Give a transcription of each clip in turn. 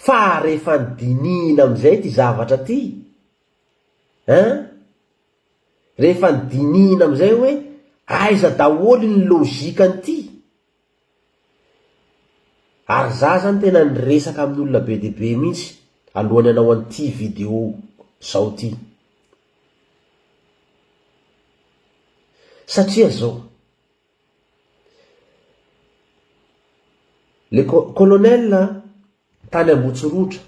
Fa rehefa nidinihina amin'izay ity zavatra ity ein! rehefa nidinihina amin'izay hoe aiza daholo iny logique an'ity? ary za zany tena niresaka amin'ny olona be dia be mihitsy alohan'ny hanao an'ity video zao ity, satria zao. Le colonel tany Ambotsirotra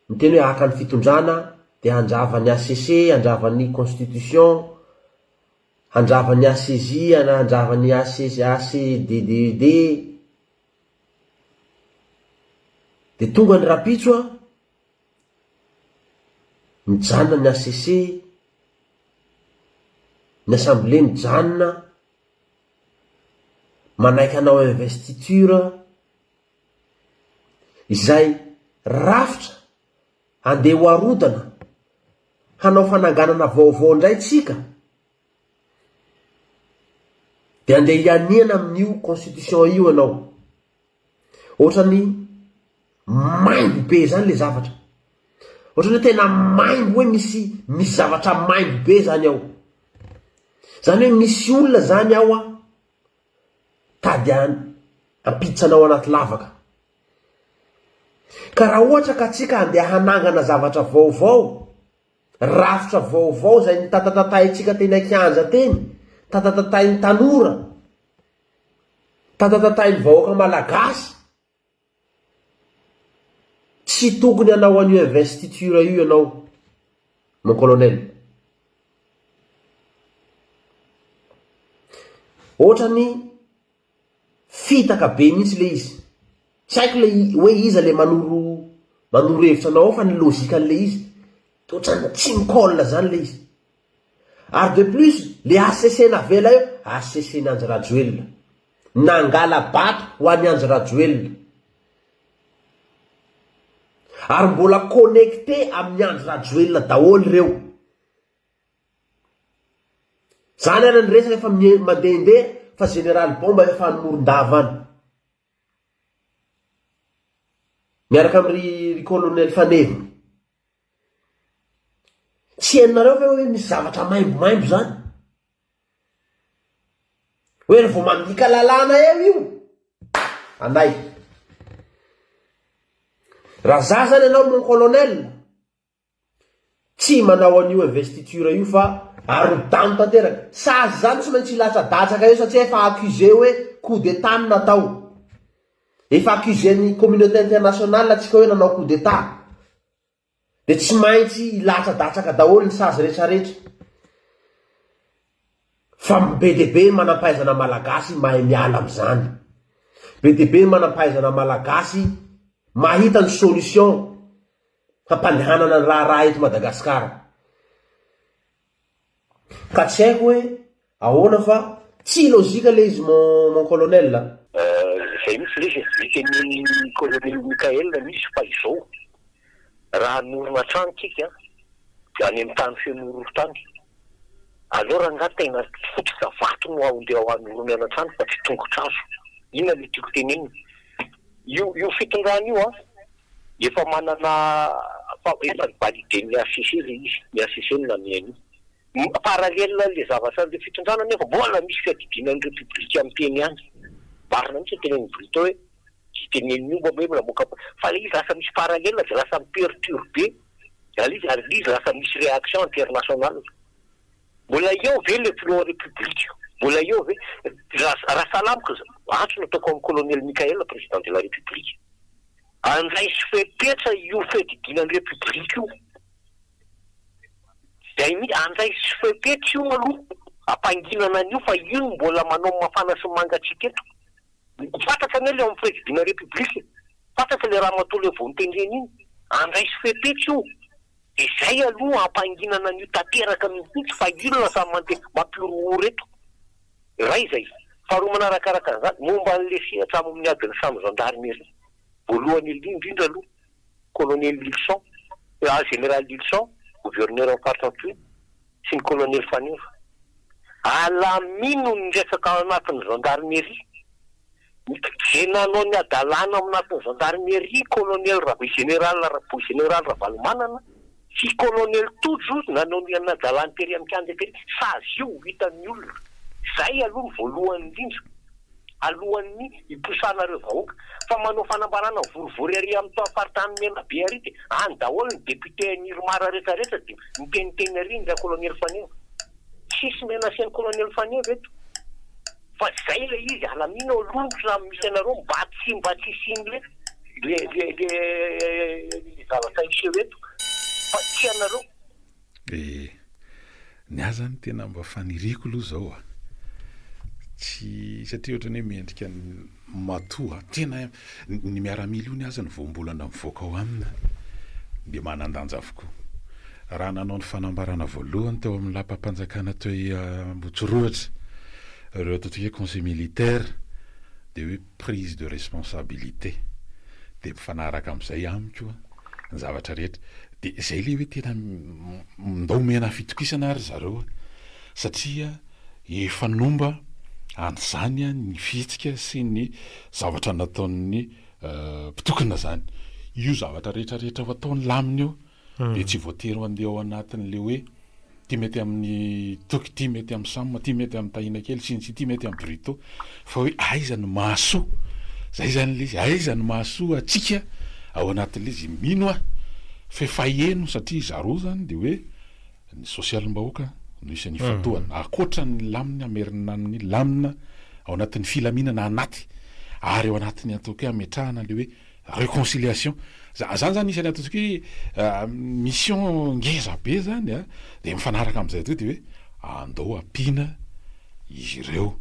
miteny hoe haka ny fitondrana dia handrava ny HCC, handrava ny constitution, handrava ny HCJ, handrava ny HCDDED, dia tonga ny rapitso an! Mijanona ny hcc, ny assemblée mijanona, manaiky hanao investiture, izay rafitra andeha ho arodana hanao fananganana vaovao indray tsika, dia andeha hianiana amin'io constitution io ianao. Ohatrany maimbo be zany le zavatra. Ohatrany hoe tena maimbo hoe misy misy zavatra maimbo be zany ao. Zany hoe misy olona zany ao an, tady hampiditra anao anaty lavaka. Ka raha ohatra ka tsika andeha hanangana zavatra vaovao, rafitra vaovao zay notatatatahintsika teny an-kianja teny, tatatatahin'ny tanora, Tatatatain'ny vahoaka malagasy. Tsy tokony hanao an'io investiture io ianao mon colonel. Ohatrany fitaka be mihitsy ilay izy. Tsy haiko ilay hoe iza ilay manoro manoro hevitra anao ao fa ny logique an'ilay izy dia ohatrany tsy mi-colle izany ilay izy. Ary de plus le HCC navela eo, HCC n'i Andry Rajoelina. Nangala bato ho an'i Andry Rajoelina. Ary mbola connecté amin'i Andry Rajoelina daholo ireo. Zany ary ny resaka efa mandehandeha fa Général Bomba efa any Morondava any. Miaraka amin'i ry Colonel Faneviny. Tsy henonareo ve hoe misy zavatra maimbomaimbo zany? Hoe ry vao mandika lalàna eo io? Anay. Raha za zany anao mon colonel, tsy manao an'io investiture io fa arodano tanteraka. Sazy zany tsy maintsy hilatsadatsaka eo satria efa accusé hoe coup d'état no natao. Efa accusé ny communauté internationale tsika hoe nanao coup d'état. dia tsy maintsy hilatsadatsaka daholo ny sazy retraretra fa be dia be ny manampahaizana malagasy mahay miala amin'izany, be dia be ny manampahaizana malagasy mahita ny solution hampandehanana ny raharaha eto Madagasikara. Ka tsy haiko hoe ahoana fa tsy lojika le izy mon mon colonel a. Zay mihitsy lesy e, nitenenin'ny colonel Mickael nisy fa izao raha hanorina trano tsika dia any amin'ny tany feno horohorontany aleo rangah tena fototra vato no andeha hanoronana trano fa tsy tongotrazo, inona le tiako tenenina? io io fitondrana io an! Efa manana fahaverezany validé ny HCC ilay izy, ny HCC no nanome an'io. Parallèle an'ilay zavatra an'ireo fitondrana anefa, mbola misy fiadidiana an'ny Repoblika miteny ihany. Marina mihitsy ny tenenin'i Brito hoe tsy tenenin'ny omby ve mbola moka ampondra. Fa ilay izy lasa misy parallèle dia lasa mi-perturber ilay izy ary ilay izy lasa misy réaction internationale. Mbola eo ve le filoha repoblika? Mbola eo ve? Raha sahala amiko, antso nataoko an'i Colonel Mickaël Président de la République, andraiso fepetra io fiadidiana ny repoblika io, zay mihitsy, andraiso fepetra io aloha, ampanginana an'io fa io no mbola manao mafana sy mangatsiaka eto. Fantatra anie le ao amin'ny fiadidiana repoblika e, fantatra le ramatoa le vao notendrena iny, andraiso fepetra io. Izay aloha ampanginana an'io tanteraka mihitsy fa io no lasa mampihorohoro eto. Iray izay. Faharoa manarakaraka an'izany, momba an'ilay sehatra amin'ny adin'ny samy zandarimeria. Voalohany indrindra aloha, kolonely Lylison, jeneraly Lylison, governoran'ny faritra Ampio, sy ny kolonely Faneva. Alamino ny resaka ao anatin'ny zandarimeria. Nitodizeny nanao ny hadalana ao anatin'ny zandarimeria kolonely Ravo Jeneraly Raboy Jeneraly Ravalomanana sy kolonely Tojo nanao ny hadalany tery amin'ny kianja tery. Sazy io ho hitan'ny olona. Izay aloha no voalohany indrindra alohan'ny hiposahanareo vahoaka. Fa manao fanambarana mivorivory ary amin'ny tao faritany Menabe ary dia any daholo ny député an'i Irmar rehetra rehetra dia miteniteny ary ny ra-kolonely Faneva. Tsisy menacer ny kolonely Faneva eto. Fa zay ilay izy, alamino aloha ny slam misy anareo mba tsy mba tsy hisian'le le le le le zavatra hiseho eto fa tsy anareo. Ee, ny ahy zany tena mba faniriako aloha zao a, tsy satria ohatrany hoe mendrika ny matoa, tena Ny miaramila ony aza ny voambolana mivoaka ao aminy dia manan-danja avokoa. Raha nanao ny fanambarana voalohany teo amin'ny lapam-panjakana teo Ambohitsirohitra ireo atao hoe conseil militaire dia hoe prise de responsabilité. Dia mifanaraka amin'izay amiko ny zavatra rehetra. Dia izay ilay hoe tena ndao omena fitokisana ry zareo satria efa nomba an'izany ny fihetsika sy ny Zavatra nataon'ny mpitokona izany. Io zavatra rehetra rehetra ho ataony lamina io dia tsy voatery handeha ao anatin'ilay hoe ity mety amin'ny Toky, ity mety amin'ny Sam, ity mety amin'ny Tahinakely sy ny sisa, ity mety amin'ny Brito fa hoe aiza no mahasoa. Izay izany ilay izy, aiza no mahasoa antsika ao anatin'ilay izy. Mino aho fa efa heno satria zareo izany dia hoe. Ny sosialim-bahoaka no isan'ny ifantohana, ankoatra ny lamina merina amin'ny lamina ao anatin'ny filaminana anaty ary ao anatin'ny ataoko hoe hametrahana ilay hoe reconciliation. Za- Zany zany isan'ny ataontsika hoe ah, mission ngeza be zany a, dia mifanaraka amin'izay toa dia hoe andao ampiana izy ireo.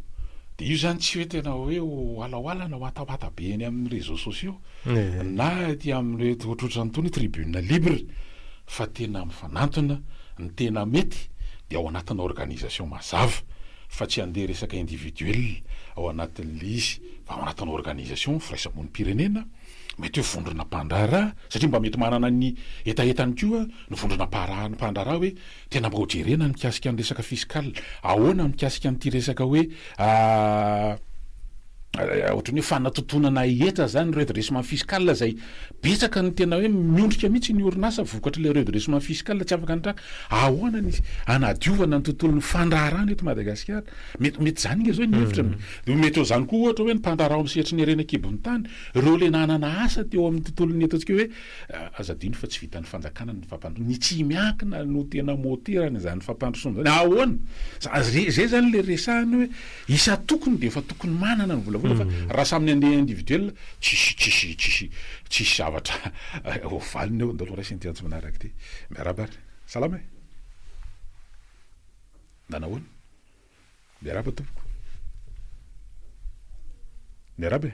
Dia io zany tsy hoe tena hoe ho halaohalana watawata be eny amin'ny réseaux sociaux Ehe. na ety amin'ireto ohatrohatrany itony tribune libre. fa tena mifanantona, ny tena mety dia ao anatina organisation mazava fa tsy handeha resaka individuel ao anatin'ilay izy fa ao anatina organisation firaisamonim-pirenena, mety hoe vondrona mpandraharaha satria mba mety manana ny hetahetany koa ny vondrona mpaharaha mpandraharaha hoe tena mba hojerena ny mikasika ny resaka fiscal, ahoana ny mikasika an'ity resaka hoe. ohatran'ny hoe fanatotonana hetra izany ny redressement fiscal izay betsaka ny tena hoe miondrika mihitsy ny orinasa vokatr'ilay redressement fiscal tsy afaka ny traka. Ahoana ny hanadiovana ny tontolon'ny fandraharahana eto Madagasikara? Mety mety izany ange izao ny hevitra an. Dia mety ho izany koa ohatra hoe ny mpandraharaha ao amin'ny sehatry ny harena an-kibon'ny tany, ireo ilay nanana asa teo amin'ny tontolon'ny eto antsika hoe aza adino fa tsy vitan'ny fanjakana ny fampandrosoana. Ny tsy miankina no tena môteran'izany fampandrosoana izany. Ahoana? Izay izay izany ilay resahana hoe Isan-tokony dia efa tokony manana ny volavola fa raha samy ny andeha individuel tsisy tsisy tsisy tsisy zavatra ho valiny eo. Ndeha aloha raisina ity antso manaraka ity. Miarahaba ary. Salama e! Mba nahoana? Miarahaba tompoko. Miarahaba e!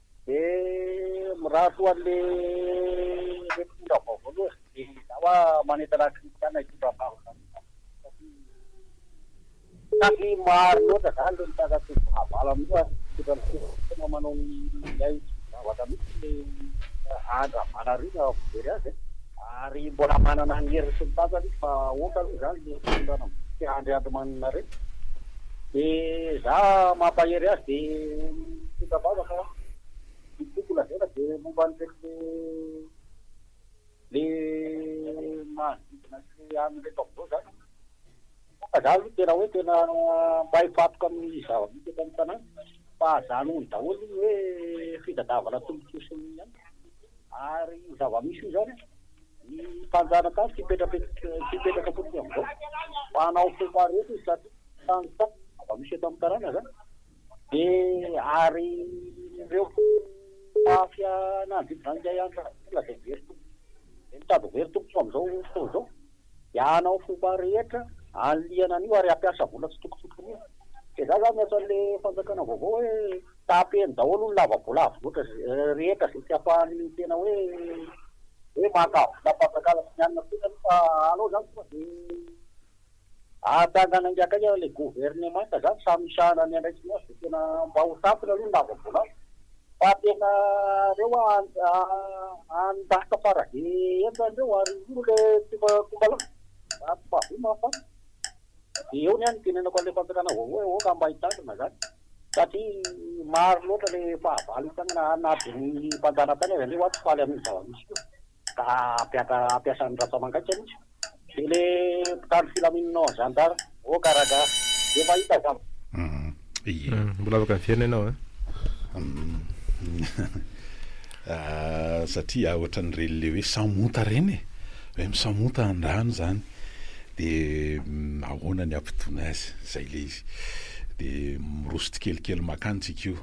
Dia mirary ho an'le le mpitondra vaovao aloha e! Izaho a manentana an'i Christian hitondra vahoka satria satria maro loatra zany le mitakatry ny fahavalony io ary mitondra ny firenena tena manao ny hay tsy mivavaka mihitsy le Andry Ravalariana vao very azy e! Ary mbola manana ny heriny sy ny tanjany izy fa aoka aloha izany le fitondrana mivonto sy Andry Andrimaninareta. Dia za mampahery azy dia mitondra vava fa ny tiako lazaina dia momba an'ireto le manodidina sy an'ireto amin'izao zany fa za aloha tena hoe tena mba hifantoka amin'ny zava-misy eto amin'ny tanàna fa aza anohy daholo ny hoe fitadiavana tombontsoa sy ny aina ary io zava-misy io zany ny mpanjanaka any tsy hipetraka fotsiny amin'izao fa hanao fomba rehetra izy satria Tany ta aza misy eto am karana zany de ary reo mafia nanodidy zany ndray an za mbola de very tompoko de mitady very tompoko am zao fotoana zao de anao fomba rehetra anliana anio ary ampiasa vola tsy tokony hotriniana de za zany miantso anle fanjakana vaovao hoe tapeny daholo ny lava bola avy loatra rehetra ze tsy ampahany tena hoe hoe maka volam panjakana sy ny anona kosa aloha fa anao zany tonga de Ahatanga naingakaika le governemanta zany sa misahana ny andraikiny azy de tena mba ho sampona aloha ny lava volangy fa tena reo any lasa fara be enjany reo ary io no le fomba fomba lasa raha tsy mahavy ma fa de eo ny ahy ny tenenako anle fanjakana vaovao hoe aoka mba hitandrina zany satria maro loatra le fahavalo itagnana na de ny mpanjana tany aza nge oa tsy faly aminio zava misy io. Ka ampiasa an'i Rajamangaika mintsy de le mpitandro filaminana ao zandary. Oh ka ragah de mahita za. Ye. Mbola afaka miverina ianao a. Ahh satria ah ohatran'ny reny le hoe samonta reny e, hoe misamonta an-drano zany de ahoana ny ampitoana azy, zay le izy de miroso tsikelikely makany tsika io.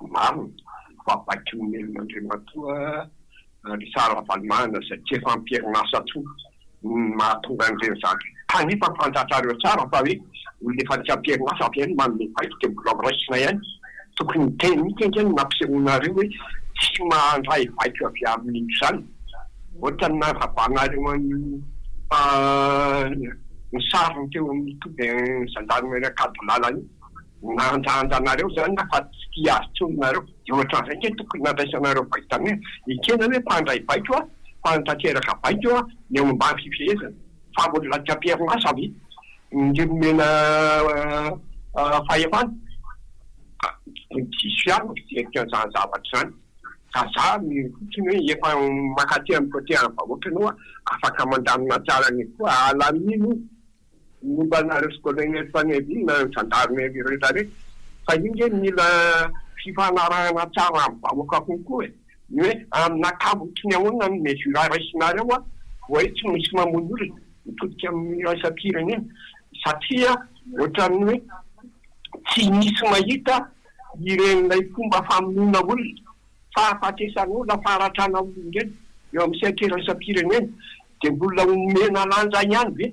Marina fa baikon'Andriamatoa Richard Ravalomanana izay tsy efa am-perinasa intsony no mahatonga an'ireny zavatra ireny. Kanefa fantatrareo tsara fa hoe olona efa tsy am-perinasa avy eo no manome baiko dia mbola ho raisina ihany. Tokony hiteny mihitsy ange ny nampisehoanareo hoe tsy mandray baiko avy amin'izany. Ohatran'ny nandravanareo an'io fa ny sariny teo amin'ny toby Gendarmerie Ankadilala io. Manandanja anareo izany aho fa tsy tia azy intsony nareo. Dia ohatran'izay ange tokony nandraisanareo vaitamina. Ekena hoe mpandray baiko aho fa nitateraka baiko eo aho ny ao ambany fifehezana. Fa mbola anaty amperin'asa ve ny nomena fahefana? Diso ihany ny fijeriky an'izany zavatra izany. Ka za mino fotsiny hoe efa mankaty amin'ny côté an'ny vahoaka anao aho, afaka mandamina tsara an'io koa. Alamino o! Momba anareo sy colonel Fanirisoa nareo zandary Merina rehetra rehetra fa io nge mila fifanarahana tsara amin'ny vahoaka kokoa e! ny hoe amin'ny ankabotry ny ahoana ny mesure raisinareo a! voay tsy misy mamono olona mitodika amin'ny iraisam-pirenena satria ohatran'ny hoe tsy misy mahita ireny ilay fomba famonoana olona fahafatesan'olona, faharatranan'ny olombelona eo amin'ny seha-kiraisam-pirenena dia mbola omena lanja ihany ve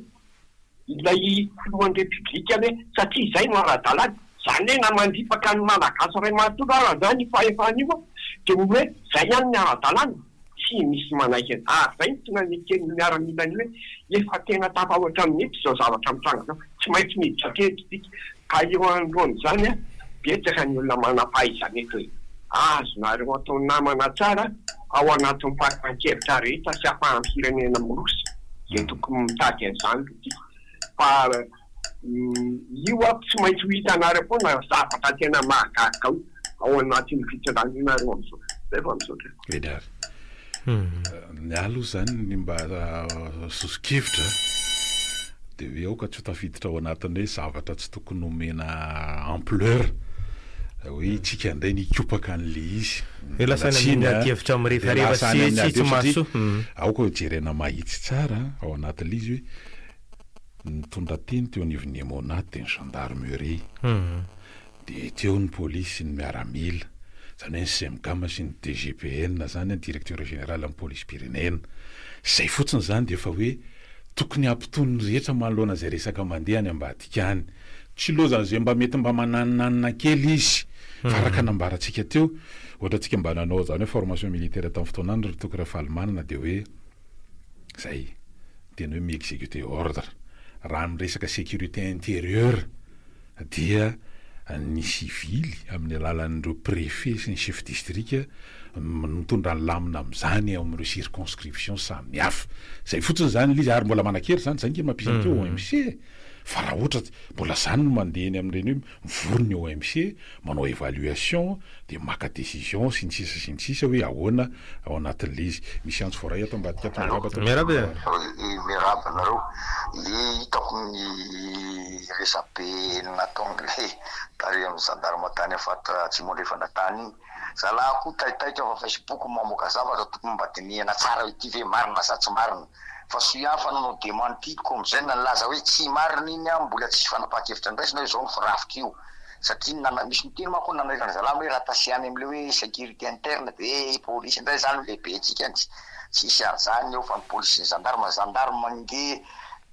ilay filohan'ny Repiblika ve satria izay no ara-dalàna? Izany hoe na mandripaka ny Malagasy iray manontolo aza ny fahefana io dia ny hoe izay ihany ny ara-dalàna? Tsy misy manaiky an. Ary izay no tonga neken'ny miaramila ny hoe efa tena tafahoatra amin'ny nify izao zavatra mitranga izao, tsy maintsy miditra teny isika. Ka eo anoloan'izany, betsaka ny olona manam-pahaizana eto e. Azonareo atao namana tsara ao anatin'ny fanapahan-kevitra rehetra sy ahafahan'ny firenena miroso izay tokony mitady an'izany loha ity. Fa. Io aho tsy maintsy ho hitanareo foana zavatra tena mahagaga ao anatin'ny fitsangananareo amin'izao. Zay fa misaotra. Vedary. Ny ahy aloha izany ny mba soso-kevitra dia hoe aoka tsy ho tafiditra ao anatin'ny hoe zavatra tsy tokony omena ampleur hoe isika indray nikopaka an'ilay izy. Dia lasa any amin'ny ady hevitra mirefarefa sy tsy mahasoa. Aoka ho jerena mahitsy tsara ao anatin'ilay izy hoe. Nitondra teny teo anivon'ny Emmonat ny gendarmerie. Dia teo ny polisy sy ny miaramila, izany hoe ny Cemgam sy ny DGPN izany, ny directeur général ny polisim-pirenena. Izay fotsiny izany dia efa hoe tokony hampitony ny rehetra manoloana izay resaka mandeha any ambadika any. Tsy loza izay mba mety mba mananinanina kely izy. Fa araka nambarantsika teo, ohatra antsika mba nanao izany hoe formation militaire tamin'ny fotoanany ry Toky Rafalimanana dia hoe izay. dia ny hoe mi-executer ordre. Raha amin'ny resaka sécurité intérieure dia ny sivily amin'ny alalan'ireo préfet sy ny chef distrika no mitondra ny lamina amin'izany ao amin'ireo circonscriptions samihafa. Izay fotsiny izany ilay izy ary mbola manan-kery izany, izay ange mampisy an'ity OMC e! Fa raha ohatra mbola izany no mandeha eny amin'ireny hoe mivory ny OMC, manao évaluation, dia maka décision sy ny sisa sy ny sisa hoe ahoana ao anatin'ilay izy. Misy antso voaray ato ambadika ato, miarahaba tompoko. Miarahaba anareo. Ny hitako ny resabe nataon'ilay tary amin'ny gendarme tany Afat Atsimo Andrefana tany iny Zalahy koa taitaitra fa facebook no mamoaka zavatra tokony mba dinihana tsara ity ve marina sa tsy marina fa soa ihany fa nanao dementie ny comgn nilaza hoe tsy marina iny an mbola tsisy fanapahan-kevitra ndraisina hoe izao no firafitra io satria ny nana misy miteny manko ny nanairany zalahy hoe raha tasiana any amin'ilay hoe securité interne dia hoe polisy indray izany no lehibentsika any tsisy an'izany eo fa ny polisy sy ny gendarme, gendarme ange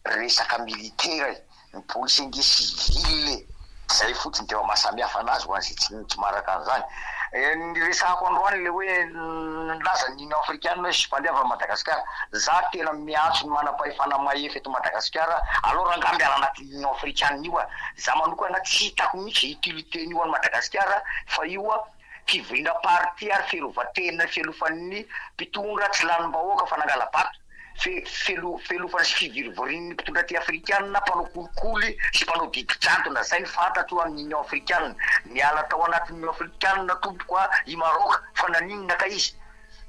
resaka militaire e! ny police ange civile e! Zay fotsiny tena mahasamihafa anazy ho an'izay tsy tsy maharaka an'izany. Ny resahako androany le hoe nilaza ny Union africaine hoe spandeha avy Madagascar, za tena miantso ny manam-pahefana mahefa eto Madagascar aleo rangah miala anatin'ny Union africaine io a! Za manokana tsy hitako mihitsy utilité-ny io any Madagascar fa io a fivoriana parti ary fiarovan-tena fialofan'ny mpitondra tsy lanim-bahoaka fa nangala-bato. fe, felo, felofana sy fivirivirin'ny mpitondra aty Afrikana, mpanao kolikoly sy mpanao didy jadona, zay ny fantatro amin'ny Union Afrikana, niala tao anatin'ny Union Afrikana tompoko a, i Maroc, fa naninona kay izy?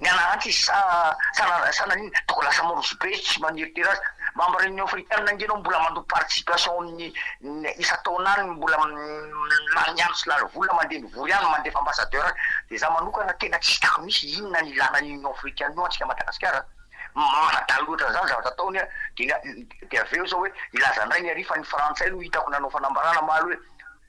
Nianarantsy izy sa, sa, sa naninona? Toko lasa mandroso be sy maneritery azy, mba mba Union Afrikana ange ianao mbola mandoa participation amin'ny isan-taona any, mbola lany andro sy lany vola mandeha Vory any mandefa ambassadeur de za manokana tena tsy hitako mihitsy inona ny ilana an'io union africaine io antsika Madagasikara mahadala loatra an'izany ny zavatra ataony dia dia avy eo zao hoe hilaza indray ny ary fa ny frantsay aloha hitako nanao fanambarana omaly hoe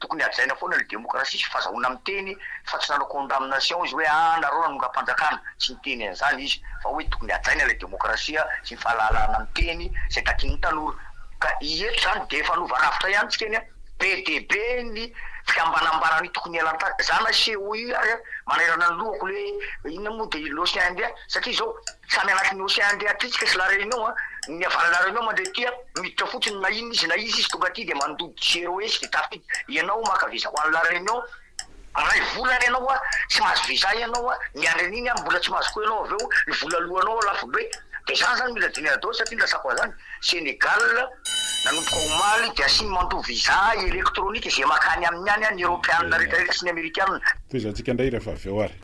tokony hajaina foana ny demokrasia sy fazahoana miteny fa tsy nanao condamnation izy hoe ah nareo nanongam-panjakana tsy niteny an'izany izy fa hoe tokony hajaina ilay demokrasia sy ny fahalalahana miteny izay takian'ny tanora ka i hetra izany dia efa lova rafitra ihany tsika anie Be dia be ny fiambanambana ny tokony hialan-tsasy. Izaho nasehoy ary manairana ny lohako hoe inona moa dia i l'Océan Indien satria izao samy anatin'ny Océan Indien aty tsika sy la Réunion a, ny avy any la Réunion mandray aty a miditra fotsiny na inona izy na iza izy tonga aty dia mandoa jero etsy dia tafiditra, ianao maka visa ho any la Réunion, Iray volana ianao a tsy mahazo visa ianao a miandry an'iny a mbola tsy mahazo koa ianao avy eo ny vola aloanao a lafo be de zany zany mila dinihana daholo satria ny latsako an'zany Senegal nanomboka omaly de asiny mandoa visa electronique izay makany aminy any a ny eropeanina rehetra rehetra sy ny amerikanina. Tohizantsika indray rehefa avy eo ary.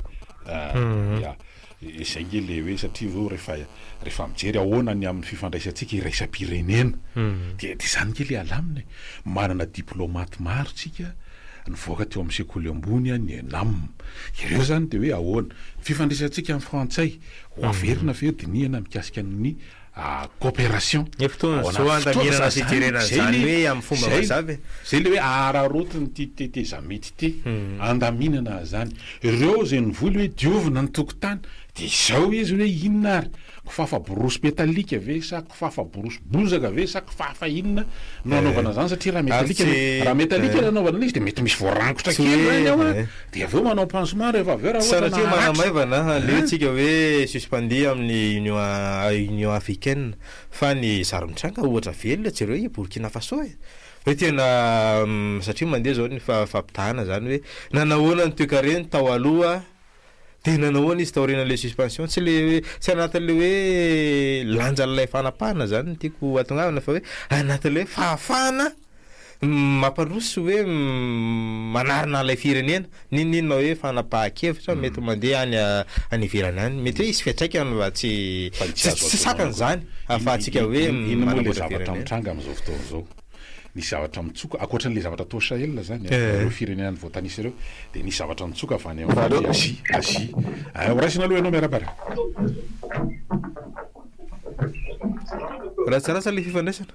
Ahh ya. Izay nge le hoe satria zao rehefa rehefa mijery ahoana ny amin'ny fifandraisantsika iraisam-pirenena dia dia izany nge le alamina e! manana diplaomaty maro tsika nivoaka teo amin'ny sekoly ambony an, ny ENAM ireo zany dia hoe ahoana ny fifandraisantsika amin'ny frantsay ho averina ve io dinihana mikasika ny coopération Ny fotoan'izao andaminana fijerena an'izany hoe amin'ny fomba mazava e. Izay ilay hoe araraotiny ity tetezamita ity, andaminana izany. Ireo izay nivoy ilay hoe diovina ny tokotany, dia izao izy hoe inona ary? Kifafa borosy metalika ve sa kifafa borosy bozaka ve sa kifafa inona no anaovana izany satria raha metalika ilay, raha metalika ilay anaovana an'ilay izy dia mety misy voarangotra kely izany ao an! Dia avy eo manao pansement rehefa avy eo raha ohatra Sanatria maharatra. manamaivana, aleo An? tsika hoe suspendu amin'ny Union Union Africaine fa ny zary mitranga ohatra velona jereo i Burkina Faso e! Hoe tena satria mandeha izao ny fa fampitahana izany hoe nanahoana ny toekareny tao aloha dia nanahoana izy taorian'ilay suspension, tsy le hoe tsy anatin'ilay hoe lanjan'ilay fanapahana izany no tiako atongavana fa hoe anatin'ilay hoe fahafahana Mampandroso hoe manarina an'ilay firenena, n'inon'inona hoe fanapahan-kevitra mm. mety mandeha any any ivelany any. Mety hoe hisy fiantraikany fa tsy tsy sakana izany ahafahantsika hoe inona moa ilay zavatra mitranga amin'izao fotoana izao. Nisy zavatra mitsoka ankoatran'ilay zavatra toa Sahel izany eh. ireo firenena ny voatanisa ireo dia nisy zavatra mitsoka avy any amin'ny Azia Azia. Eh, horaisina aloha ianao miarabara. Ratsarasa ilay fifandraisana.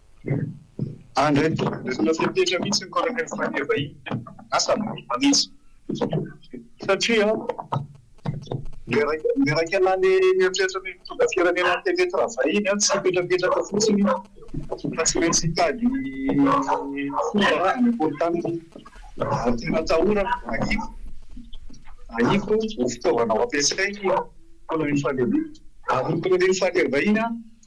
Andry, resona fepetra mihitsy ny colonel Fania vahiny, asa milamina mihitsy. Satria miraika lany mieritreritra ny mitondra firenena ny fepetra raha vahiny, tsy hipetrapetraka fotsiny fa tsy maintsy hitady fomba hanakory taminy ary tena atahorana ahiako ahiako ho fitaovana ho ampiasainy colonel Fania vahiny ary ny colonel Fania vahiny an!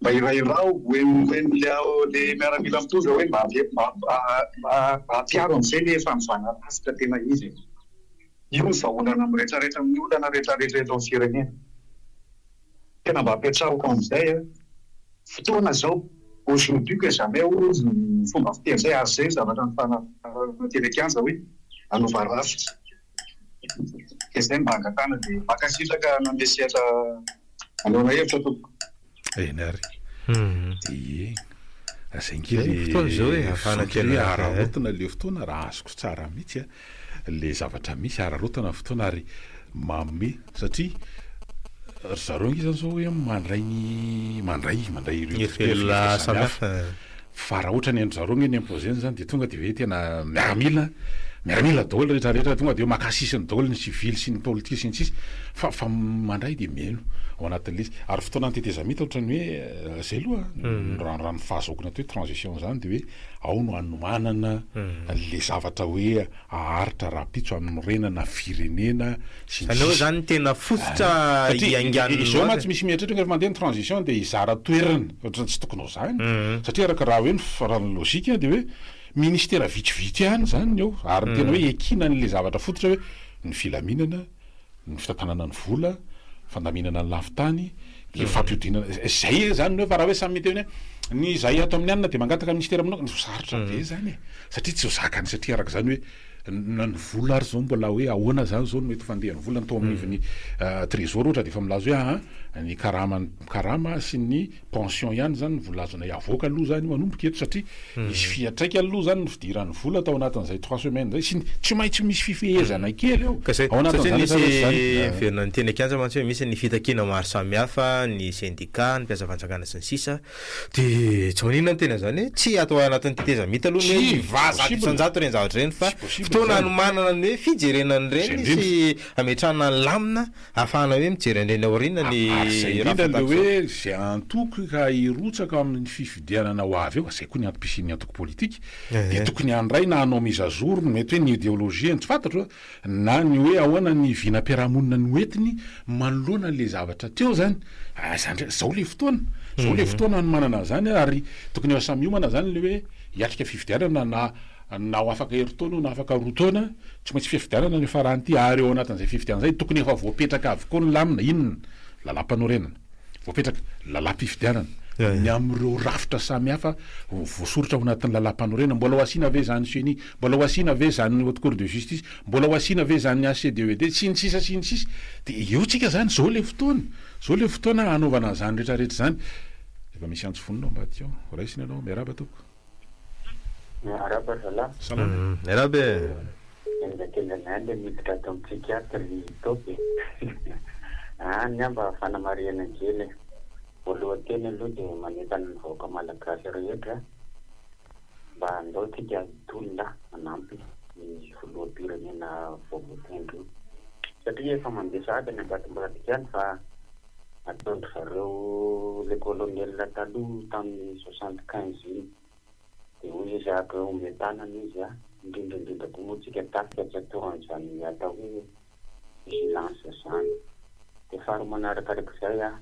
Mba irahiraho hoe le ao le miaramila mitondra hoe mba mba ampiaro amzay le fanovana rafitra tena izy e! Io ny vahaolana am retraretra am ny olana retraretra eto am firenena! Tena mba apetrahoko amzay a! Fotoana zao! Aujourd'hui que jamais hoy ny fomba fiteny zay ary zay zavatra nifanarahana teny an-kianja hoe hanova rafitra! Dia izay mba angatahana dia mankasitraka nanome sehatra anehoana hevitra tompoko. Eny ary. Ie. Aza ange le fotoana izao e, afahana tena hoe araraotana le fotoana raha azoko tsara mihitsy a, le zavatra misy araraotana ny fotoana ary manome satria ry zareo ange zany zao hoe mandray ny mandray mandray ireo dikotera samihafa. Fa raha ohatra ny an-dry zareo ange ny imposer-ny zany dia tonga dia hoe tena miaramila, miaramila daholo rehetra rehetra, tonga dia hoe maka sisiny daholo ny sivily sy ny politika sy ny sisa, fa fa mandray dia mihaino ao anatin'ilay izy. Ary fotoanan'ny tetezamita ohatra ny hoe zay aloha an, raha raha ny fahazahoako ny atao hoe transition zany dia hoe ao no hanomanana an'ilay zavatra hoe haharitra rahampitso hanorenana firenena, sy ny sisa. Aleo zany tena fototra hiaingan'ny loza e. Satria izao mantsy misy mieritreritra rehefa mandeha ny transition dia hizara toerana, ohatrany tsy tokony ho zany. Satria araka raha hoe ny faran'ny logique dia hoe ministera vitsivitsy ihany zany ny ao ary ny tena hoe ekina an'ilay zavatra fototra hoe ny filaminana, ny fitantanana ny vola, fandaminana ny lafin-tany, ny fampihodiana, izay zany ny hoe fa raha hoe samy miteny hoe ny izay ato amin'ny anona dia mangataka ny ministera manokana, sarotra be zany e. Satria tsy ho zakany satria araka izany hoe. Na ny vola ary zao mbola hoe ahoana zany zao ny mety fandehan'ny vola ny tao amin'ivon'ny trésor ohatra dia efa milaza hoe aa ny karama karama sy ny pension ihany zany no vola azonay avoaka aloha zany io manomboka eto satria misy fiatraikany aloha zany ny fidiran'ny vola tao anatin'izay trois semaines zay sy ny tsy maintsy misy fifehezana kely eo ka zay satria nisy niverina niteny an-kianja mantsy hoe misy ny fitakiana maro samihafa ny sendika ny mpiasa fanjakana sy ny sisa De tsy maninona ny tena zany hoe tsy atao anatin'ny tetezamita aloha ny hoe va zato isan-jato ireny zavatra ireny fa fotoana hanomanana ny hoe fijerena an'ireny sy hametrahana ny lamina ahafahana hoe mijery an'ireny aoriana ny raha fantatro. Izay indrindra ny hoe izay antoko ka hirotsaka ao amin'ny fifidianana ho avy eo, izay koa ny antom-pisian'ny antoko politika dia tokony handray na hanao mise à jour ny mety hoe ny ideologie-ny, tsy fantatro a! na ny hoe ahoana ny vinam-piarahamonina noentiny manoloana ilay zavatra teo izany, izany indray, izao ilay fotoana, izao ilay fotoana hanomanana an'izany ary tokony efa samy hiomana izany ilay hoe hiatrika fifidianana na na ho afaka herintaona io na afaka roa taona, tsy maintsy fifidianana ny faran'ity ary ao anatin'izay fifidianana izay tokony efa voapetraka avokoa ny lamina, inona? Lalampanorenana. Voapetraka lalam-pifidianana ny amin'ireo rafitra samihafa voasoritra ao anatin'ny lalam-panorenana. Mbola ho asiana ve izany ceni? Mbola ho asiana ve izany Haute Cour de Justice? Mbola ho asiana ve izany HCDED? Sy ny sisa sy ny sisa. Dia eo tsika izany, izao ilay fotoana. Izao ilay fotoana hanaovana izany rehetrarehetra izany. Efa misy antso vonona ao ambadika ao. Raisina ianao. Miarahaba tompoko. Miarahaba ry zalahy. Salama. Miarahaba e. Enga kenga zany le miditra ato am psychiatre ry top e. Any amba fanamarihana kely e. Voalohan-teny aloha de manentana ny vahoaka malagasy rehetra mba andao tsika hitolona hanampy ny filoham-pirenena vaovao tendry io satria efa mandeha sahady any ambadimbadika any fa ataon-dry zareo le colonel taloha tamin'ny soixante quinze iny dia hoy izy ah ka omeo tanana izy ah indrindra indrindra koa moa tsika tafika tsy atao an'izany atao hoe vigilance izany dia faharoa manaraka araka izay ah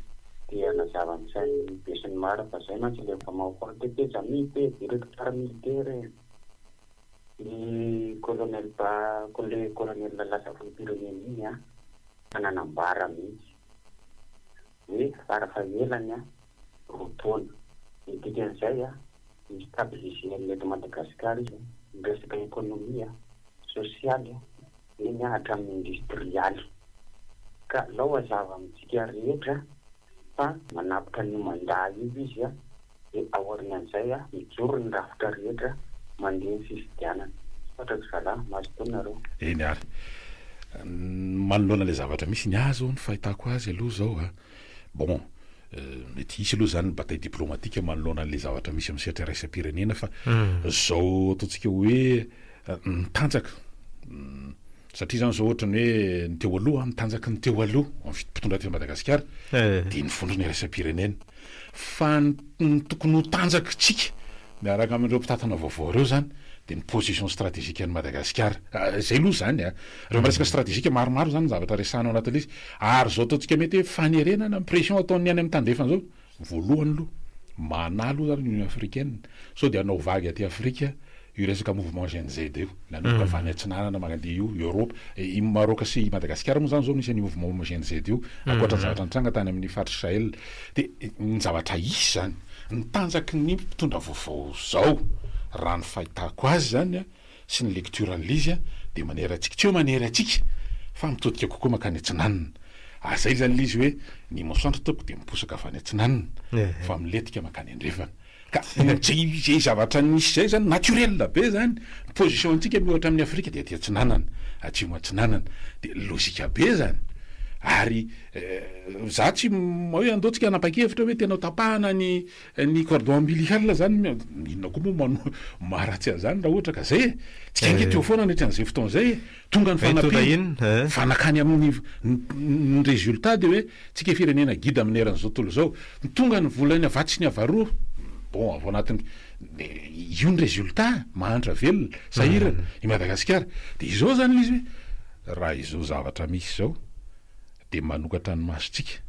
te hanazava ny sain'ny be sy ny maro fa izay mantsy ilay mpamaofaly te te jamil te directoire militaire eh iny colonel ba le colonel lasa filoham-pirenena iny ah fa nanambara mihitsy hoe fara fahelany roa taona. Ny dikan'izay, mi-stabiliser ny eto Madagasikara izy amin'ny resaka ekonomia, sosialy, eny hatramin'ny indostrialy. Ka alao hazava amintsika rehetra fa manapitra an'io mandat io izy. Dia aorianan'izay a, mijoro ny rafitra rehetra mandeha ny fifidianana. Misaotra ry zalahy, mazotoa nareo. Eny ary. Manoloana ilay zavatra misy, ny ahy izao ny fahitako azy aloha izao a, bon, mety hisy aloha izany ny bataille diplomatique manoloana an'ilay zavatra misy amin'ny sehatra iraisam-pirenena fa izao ataontsika hoe ny tanjaka, Satria izany izao ohatra ny hoe ny teo aloha, ny tanjaky ny teo aloha ao amin'ny fitondrana teto Madagasikara dia ny vondrona iraisam-pirenena. Fa ny tokony ho tanjakitsika miaraka amin'ireo mpitantana vaovao ireo izany dia ny position stratégique an'i Madagasikara. Izay aloha izany. Ireo resaka stratégique maromaro izany ny zavatra resahana ao anatin'ilay izy. Ary izao ataontsika mety hoe fanerena na pression ataon'ny any amin'ny tandrefana izao. Voalohany aloha, manahy aloha zany ny Union africaine sao dia hanao vague aty Afrika io resaka mouvement Gen Z io, nanomboka avy any atsinanana mandeha io Europe, i Maroc sy i Madagasikara moa zany zao no isan'ny mouvement Gen Z io, ankoatra ny zavatra nitranga tany amin'ny faritry Sahel. De ny zavatra hisy zany, ny tanjaky ny mpitondra vaovao zao raha ny fahitako azy zany a, sy ny lecture an'i Lizy dia manera antsika, tsy hoe manera antsika fa mitodika kokoa mankany atsinanana. Ary izay izany Lizy hoe ny masoandro tompoko dia miposaka avy any atsinanana fa milentika mankany andrefana. Ka izay zavatra nisy izay izany naturel be izany, ny position antsika miohatra amin'i Afrika dia aty atsinanana, atsimo atsinanana. Dia lojika be izany. Ary izaho tsy hoe andeho tsika hanapa-kevitra hoe tena ho tapahana ny Ny cordon ombilical zany inona koa moa no maharatsy an'izany raha ohatra ka zay e! Tsika ange teo foana nandritra an'izay fotoana izay e! Tonga ny fanampiana fa nankany amin'ny ny résultat dia hoe tsika firenena gida amin'ny eran'izao tontolo izao tonga ny vola ny avatsy sy ny avaroa bon avy ao anatin'ny io ny résultat mahantra velona sahirana i Madagasikara dia izao zany ilay izy hoe raha izao zavatra misy izao dia manokatra ny masontsika.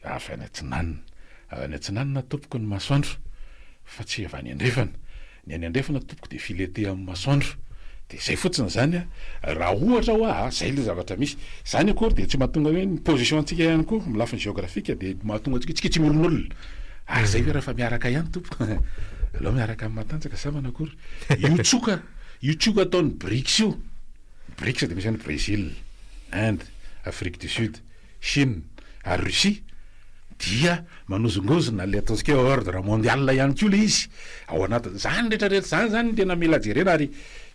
avy any atsinanana. Avy any atsinanana tompoko ny masoandro fa tsy avy any andrefana. Ny any andrefana tompoko dia filetea amin'ny masoandro. Dia izay fotsiny izany an! Raha ohatra hoa a! izay ilay zavatra misy. Izany akory dia tsy mahatonga hoe ny position antsika ihany koa amin'ny lafiny geographique dia mahatonga antsika tsika tsy miolonolona. Ary izay hoe rehefa miaraka ihany tompoko an! aleo miaraka amin'ny matanjaka zah manakory. Io tsoka, io tsoka ataon'ny Brics io. Brics dia misy any Brésil, Inde, Afrique du Sud. Chine ary Russie dia manozongozona ilay ataontsika hoe ordre mondial ihany koa ilay izy ao anatin'izany rehetra rehetra izany izany no tena mila jerena ary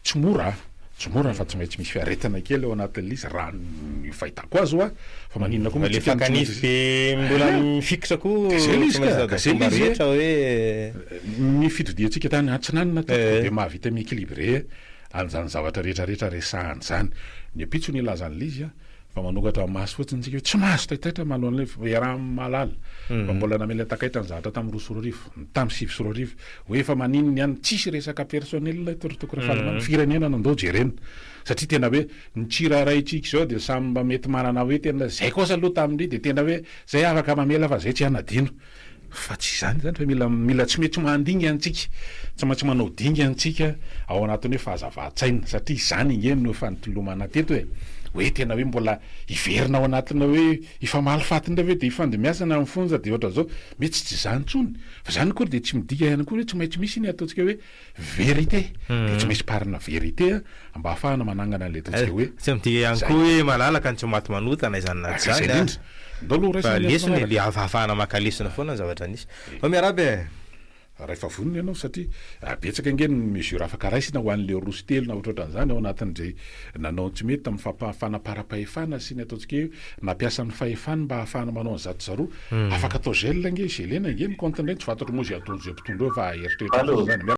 tsy mora an! tsy mora fa tsy maintsy misy fiaretana kely ao anatin'ilay izy raha ny fahitako azy hoa fa maninona koa moa tsika no tsy maintsy Ilay fakan'ify be mbola mifikitra koa Dia zay ilay izy ka! Ka zay ilay izy e! Ny fitodiantsika tany atsinanana tato dia mahavita mi-equilibrer an'izany zavatra rehetra rehetra resahana izany. Ny ampitso nilaza an'ilay izy an! Fa manokatra maso fotsiny isika hoe tsy mahazo taitaitra manoloana ilay f- iaraha-mahalala. Fa mbola namela takaitra ny zavatra tamin'ny roa sy roa arivo, tamin'ny sivy sy roa arivo, hoe fa maninona ihany tsisy resaka personnel eto ry Toky Rafalimamy, firenena no andao jerena. Satria tena hoe ny tsiraraintsika izao dia samy mba mety manana hoe tena izay kosa aloha tamin'ny dia tena hoe izay afaka mamela fa izay tsy hanadino. Fa tsy izany izany fa mila mila tsy mety manding any tsika, tsy maintsy manao dingany tsika ao anatin'ny hoe fahazavantsaina satria izany ange no efa nitolomana teto e! hoe tena hoe mbola hiverina ao anatina hoe hifamalifaty indray ve dia hifandimbiasana amin'ny fonja dia ohatran'izao, mety tsy izany intsony fa izany akory dia tsy midika ihany koa hoe tsy maintsy misy iny ataontsika hoe Vérité, dia tsy maintsy parina vérité a, mba hahafahana manangana an'ilay ataontsika hoe. Tsy midika ihany koa hoe malalaka ny tsy maty manota na izany na izany a. Izay indrindra. Ndao aloha horaisina ny antony manaraka. Fa lesona e, hahafahana maka lesona foana ny zavatra nisy. Fa miarahaba e. Rahefa vonona ianao satria betsaka ange ny mesure afaka raisina ho an'ilay roa sy telo na ohatrohatran'izany ao anatin'izay. Nanao ny tsy mety tamin'ny fampahafana am-parapahefana sy ny ataontsika hoe nampiasa ny fahefany mba hahafahana manao an'i zato zaroa. Afaka atao gel ange, gelena ange ny compte indray, tsy fantatro moa izay ataon'izay mpitondra eo fa eritreritra fotsiny izany.